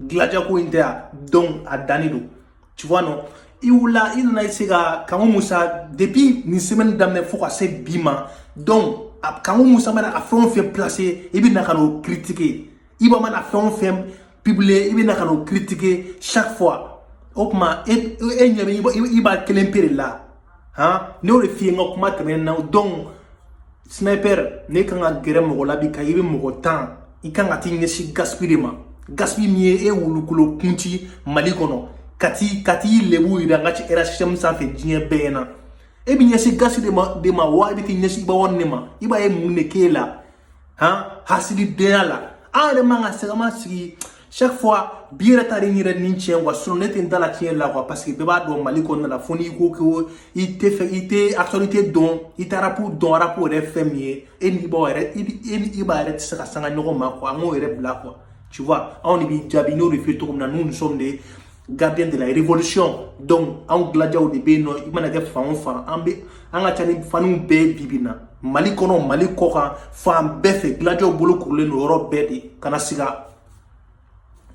gladia ko in tɛ yan donc a danni don tu vois non i wulila i nana i se ka kanku musa depuis nin semaine daminɛ fo ka se bi ma donc kanku musa mana a fɛn o fɛn placer i bɛ na ka n'o critiquer iba mana fɛn o fɛn publier i bɛ na ka n'o critiquer chaque fois o tuma e e ɲɛ bɛ iba kelen pe de la han n y'o de f'i ye n ka kuma tɛmɛnen na donc sniper n'i kan ka gɛrɛ mɔgɔ la bi ka i bɛ mɔgɔ tan i kan ka t'i ɲɛsin gaspi de ma gaspi min ye e wulukolo kunti mali kɔnɔ ka t'i ka t'i lebu yira n ka cɛ rhhm sanfɛ diɲɛ bɛɛ na e b'i ɲɛsin gaspi de ma wa i bɛ t'i ɲɛsin iba one ma iba ye mun de k'e la han hasididenya la an yɛrɛ man ka sɛgɛma sigi chaque fois bi yɛrɛ ta de n yɛrɛ ni tiɲɛ wa sinon ne tɛ n da la tiɲɛ la quoi parce que bɛɛ b'a dɔn mali kɔnɔna la fo n'i ko ko i tɛ fɛ i tɛ actualité dɔn i tɛ arapu dɔn arapu yɛrɛ ye fɛn min ye e ni iba yɛrɛ e ni iba yɛrɛ tɛ se ka sanga ɲɔgɔn ma quoi an k'o yɛrɛ bila quoi tu vois anw de b'i jaabi n y'o de f'i ye cogo min na nous nous sommes des gardiens de la révolution donc anw gladiaw de bɛ yen nɔ i mana kɛ fan o fan an bɛ an ka ca ni faniw bɛɛ bi bi na mali kɔnɔ mali kɔ kan fan bɛɛ fɛ gladiaw bolo kurulen don yɔrɔ bɛɛ de kana siga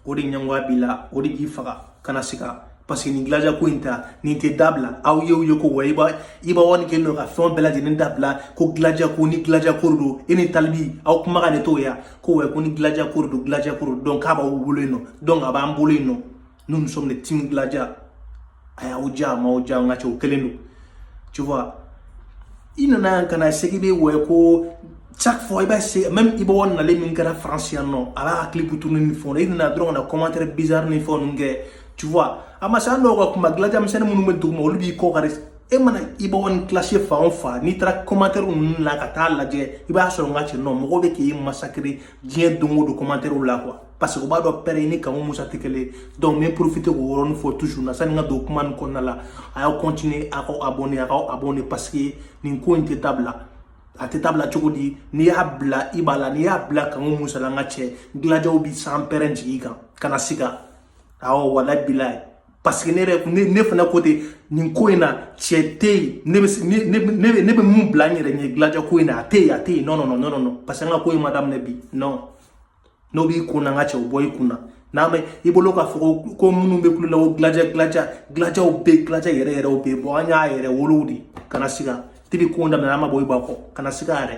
o de ɲɛngoya b'i la o de b'i faga kana siga parce que nin gladia ko in ta nin tɛ dabila aw ye o ye ko wa iba iba one kɛlen don ka fɛn bɛɛ lajɛlen dabila ko gladia ko ni gladia ko de don e ni tal b aw kumakan ne t'o ye ko wɛ ko ni gladia ko de don gladia ko de don k'a b'aw bolo yen nɔ donc a b'an bolo yen nɔ nous nous sommes des team gladia a y'aw diya a m'aw diya n ka cɛ o kelen don tu vois i nana yan ka na segi bɛ wɛ ko chaque fois iba c'est même ibaw nalen min kɛra france yan nɔ a b'a ka clip tourner ni fɛnw na i nana dɔrɔn ka na commentaire bizarre ni fɛnw ninnu kɛ tu vois a ma se an dɔw ka kuma gladia misɛnnin minnu bɛ duguma olu b'i kɔ kari e mana iba one clasher fan o fan n'i taara kɔmantɛriw ninnu la ka taa lajɛ i b'a sɔrɔ n ka cɛ nɔ mɔgɔw bɛ k'i massacrer diɲɛ don o don kɔmantɛriw la quoi parce que u b'a dɔn pɛrɛn ni kanku musa tɛ kelen donc n bɛ profiter k'o yɔrɔnin fɔ toujours na sani n ka don kuma nin kɔnɔna la a y'aw continuer a k'aw abonner a k'aw abonner parce que nin ko in tɛ dabila a tɛ dabila cogo di n'i y'a bila iba la n'i y'a bila kanku musa la n ka cɛ gladiaw bɛ sanpɛrɛn jigin i kan kana siga awɔ wala bilayi parce que ne yɛrɛ ne ne fana côté nin ko in na cɛ tɛ yen ne bɛ ne ne ne ne bɛ mun bila n yɛrɛ ɲɛ gladia ko in na a tɛ yen a tɛ yen non non non non parce que an ka ko in ma daminɛ bi non n'o b'i kun na n ka cɛ o bɔ i kun na n'a bɛ i bolo k'a fɔ ko ko minnu bɛ kulo la ko gladia gladia gladiaw bɛ yen gladia yɛrɛ yɛrɛw bɛ yen bɔn an y'a yɛrɛwolow de kana siga depuis ko daminɛ an ma bɔ iba kɔ kana siga yɛrɛ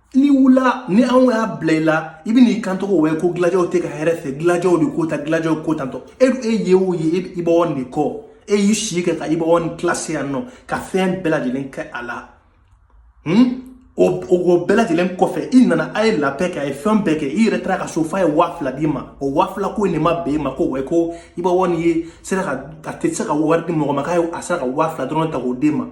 n'i wulila ni anw y'a bila i la i bɛn'i kanto ko wɛ ko gladiaw t'i ka hɛrɛ fɛ gladiaw de ko ta gladiaw ko tantɔ e e ye o ye e iba one kɔ e y'i si kɛ ka iba one clash yan nɔ ka fɛn bɛɛ lajɛlen kɛ a la hmm? o o bɛɛ lajɛlen kɔfɛ i nana a ye la paix kɛ a ye fɛn bɛɛ kɛ i yɛrɛ taara ka so f'a ye waa fila d'i ma o waa fila ko in de ma bɛn i ma ko wɛ ko iba one ye sera ka a tɛ se ka wari di mɔgɔ ma k'a ye a sera ka waa fila dɔrɔn ta k'o d'e ma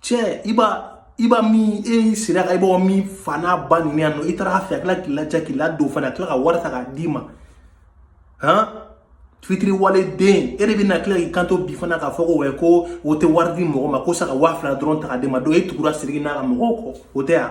cɛ iba iba min e sera ka iba min fa n'a ba neni yan nɔ i taara a fɛ a tila k'i lajɛ k'i ladon fana a tila ka wari ta k'a d'i ma han fitiriwaleden e de bɛna tila k'i kanto bi fana k'a fɔ ko wɛ ko o tɛ wari di mɔgɔ ma ko sa ka waa fila dɔrɔn ta k'a d'i ma don e tugura siriki n'a ka mɔgɔw kɔ o tɛ yan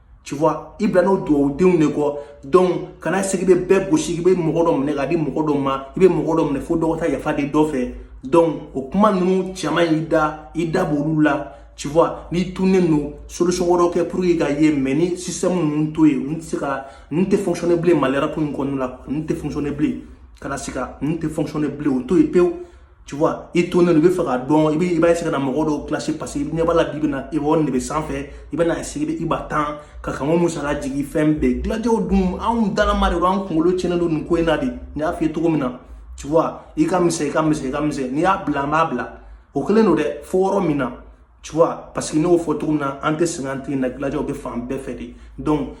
tu vois i bilalen don dugawudenw de kɔ donc kana siga i bɛ bɛɛ gosi i bɛ mɔgɔ dɔ minɛ k'a di mɔgɔ dɔ ma i bɛ mɔgɔ dɔ minɛ fo dɔ ka taa yafa deli dɔ fɛ donc o kuma ninnu caman y'i da i da b'olu la tu vois n'i tunnen don solution wɛrɛw kɛ pour que i ka ye mais nin système ninnu to yen ninnu tɛ se ka ninnu tɛ fonctionner bilen mali rap in kɔnɔna la ninnu tɛ fonctionner bilen kana siga ninnu tɛ fonctionner bilen o to yen pewu tu vois i tonnen don i b'a fɛ k'a dɔn i bɛ i b'a essayer ka na mɔgɔ dɔw clash parce que i ɲɛ b'a la bi bi na iba one de bɛ sanfɛ i bɛna essayer i b'a tan ka kan o musaka jigin fɛn bɛɛ gladiaw dun anw dalama de don an kunkolo tiɲɛnen don nin ko in na de n y'a f'i ye cogo min na tu vois i ka misɛn i ka misɛn i ka misɛn n'i y'a bila n b'a bila o kelen don dɛ fo yɔrɔ min na tu vois parce que n y'o fɔ cogo min na an tɛ sɛgɛn an tɛ na gladiaw bɛ fan bɛɛ fɛ de donc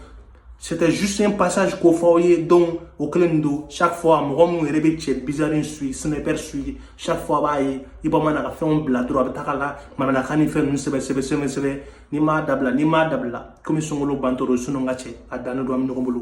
c'était juste un passage k'o fɔ aw ye donc o kelen don chaque fois mɔgɔ minnu yɛrɛ bɛ cɛ bizarre in suit sniper suit chaque fois a b'a ye iba man'a ka fɛnw bila dɔrɔn a bɛ tag'a la mananakan ni fɛn ninnu sɛbɛ sɛbɛ sɛbɛ sɛbɛ n'i m'a dabila n'i m'a dabila komi sunkalo bantɔ don sinon n ka cɛ a dannen don an bɛ ɲɔgɔn bolo